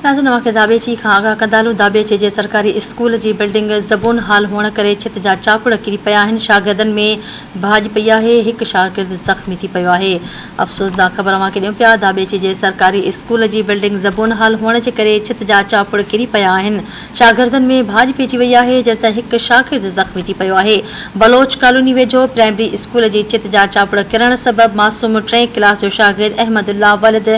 ناظرين اوهان کي داٻيچي کان آگاهه ڪنداهلون داٻيچي جي سرڪاري اسڪول جي بلڊنگ زبون حال هئڻ ڪري ڇت جا چاپڙ ڪري پيا آهن شاگردن ۾ ڀاڄ پئي آهي هڪ شاگرد زخمي ٿي پيو آهي افسوسناڪ خبر اوهان کي ڏيون پيا داٻيچي جي سرڪاري اسڪول جي بلڊنگ زبون حال هئڻ جي ڪري ڇت جا چاپڙ ڪري پيا آهن شاگردن ۾ ڀاڄ پئجي وئي آهي جڏهن ته هڪ شاگرد زخمي ٿي پيو آهي بلوچ ڪالوني ويجهو پرائمري اسڪول جي ڇت جا چاپڙ ڪرڻ سبب معصوم ٽئين ڪلاس جو شاگرد احمد الله ولد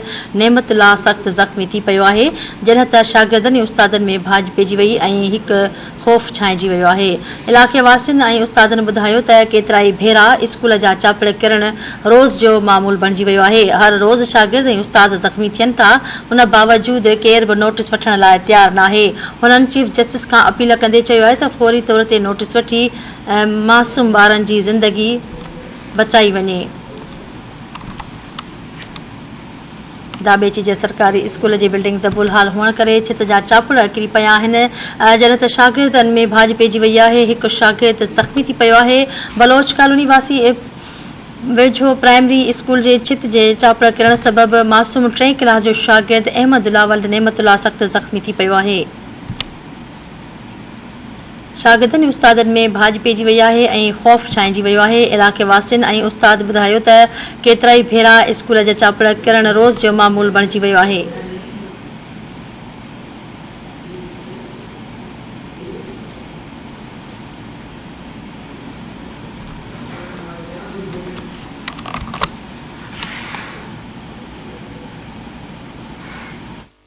نعمت الله سخت زخمي ٿي پيو آهي جڏهن ته شاگردن ۽ استادن ۾ ڀاڄ پئجي وئي ۽ هڪ خوف ڇانئجي ويو آهي علائقي واسين ۽ استادن ٻڌايو ته ڪيترائي ڀيرا اسڪول جا چاپڙ ڪرڻ روز جو معمول بڻجي ويو آهي، هر روز شاگرد ۽ استاد زخمي ٿين ٿا، ان باوجود ڪير به نوٽيس وٺڻ لاء تيار ناهي، هنن چيف جسٽس کان اپيل ڪندي چيو آهي ته فوري طور تي نوٽيس وٺي معصوم ٻارن جي زندگي بچائي وڃي. داٻيچي جي سرڪاري اسڪول جي بلڊنگ زبول حال هئڻ ڪري ڇت جا چاپڙا ڪري پيا آهن، جڏهن ته شاگردن ۾ ڀاڄ پئجي وئي آهي، هڪ شاگرد زخمي ٿي پيو آهي، بلوچ ڪالوني واسي ويجهو پرائمري اسڪول جي ڇت جي چاپڙا ڪرڻ سبب معصوم ٽئين ڪلاس جو شاگرد احمد الله ولد نعمت الله سخت زخمي ٿي پيو آهي. شاگردن ۽ استادن ۾ ڀاڄ پئجي وئي آهي ۽ خوف ڇانئجي ويو آهي. علائقي واسين ۽ استاد ٻڌايو ته ڪيترائي ڀيرا اسڪول جا چاپڙ ڪرڻ روز جو معمول بڻجي ويو آهي.